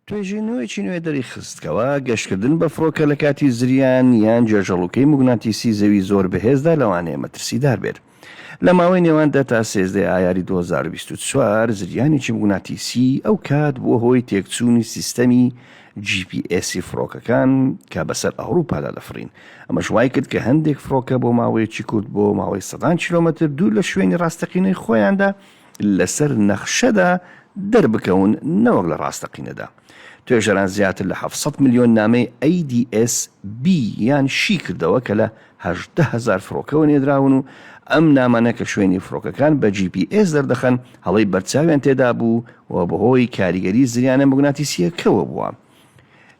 توێژینەوەیەکی نوێ دەریخست کەوا گەشتکردن بە فڕۆکە لە کاتی زریان یان جێژەڵوکەی موگناتیسی زەوی زۆر بەهێزدا لەوانەیە مەترسیدار بێت. لە ماوەی نێوان دە تا سێزدە ئایاری دوو هەزار و بیست و چوار زریانێکی موگناتیسی ئەو کات بووە هۆی تێکچوونی سیستەمی جی پی ئێسی فڕۆکەکان کە بەسەر ئەوروپادا دەفڕین ئەمەش وای کرد کە هەندێک فڕۆکە بۆ ماوەیەکی کورت بۆ ماوەی سەدان کیلۆمەتر دوور لە شوێنی ڕاستەقینەی خۆیاندا لەسەر نەخشەدا دەربکەون نەوەک لە ڕاستەقینەدا. توێژەران زیاتر لە حەفت سەد ملیۆن نامەی ئەیدیئێس بی یان شی کردەوە کە لە هەژدە هەزار فرۆکەوە نێدراون و ئەم نامانە کە شوێنی فرۆکەکان بە جی پی ئێس دەردەخەن هەڵەی بەرچاویان تێدابوو و بەهۆی کاریگەری زریانە موگناتیسییەکەوە بووە.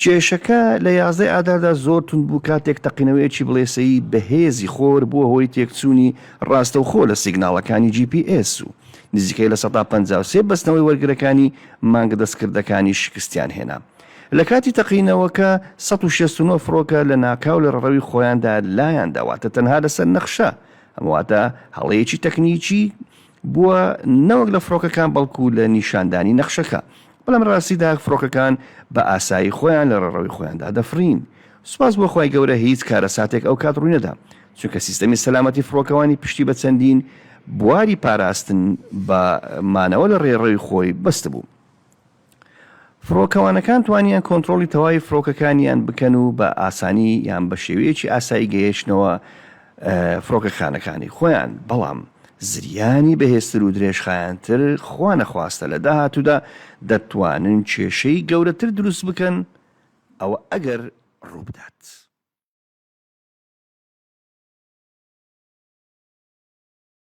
کێشەکە لە یازدەی ئاداردا زۆر توند بوو کاتێک تەقینەوەیەکی بڵێسەیی بەهێزی خۆر بووە هۆی تێکچوونی ڕاستەوخۆ لە سیگناڵەکانی جی پی ئێس و نزیکەی لە سەدا پەنجا و سێ بەستنەوەی وەرگرەکانی مانگە دەستکردەکانی شکستیان هێنا. لە کاتی تەقینەوەکە سەد و شەست و نۆ فڕۆکە لە ناکاو لە ڕەڕەوی خۆیاندا لایان دا واتە تەنها لەسەر نەخشە ئەم واتە هەڵەیەکی تەکنیکی بووە نەوەک لە فڕۆکەکان بەڵکو لە نیشاندانی نەخشەکە بەڵام لە ڕاستیدا فڕۆکەکان بە ئاسایی خۆیان لە ڕێڕەوی خۆیاندا دەفڕین سوپاس بۆ خوای گەورە هیچ کارەساتێک ئەو کات ڕووینەدا چونکە سیستەمی سەلامەتی فڕۆکەوانی پشتی بە چەندین بواری پاراستن بە مانەوە لە ڕێڕەوی خۆی بەستبوو. فڕۆکەوانەکان توانیان کۆنترۆڵی تەواوی فڕۆکەکانیان بکەن و بە ئاسانی یان بە شێوەیەکی ئاسایی گەیشتنەوە فڕۆکەخانەکانی خۆیان، بەڵام زریانی بەهێزتر و درێژخایەنتر خوا نەخواستە لە داهاتوودا دەتوانن کێشەی گەورەتر دروست بکەن، ئەوە ئەگەر ڕووبدات.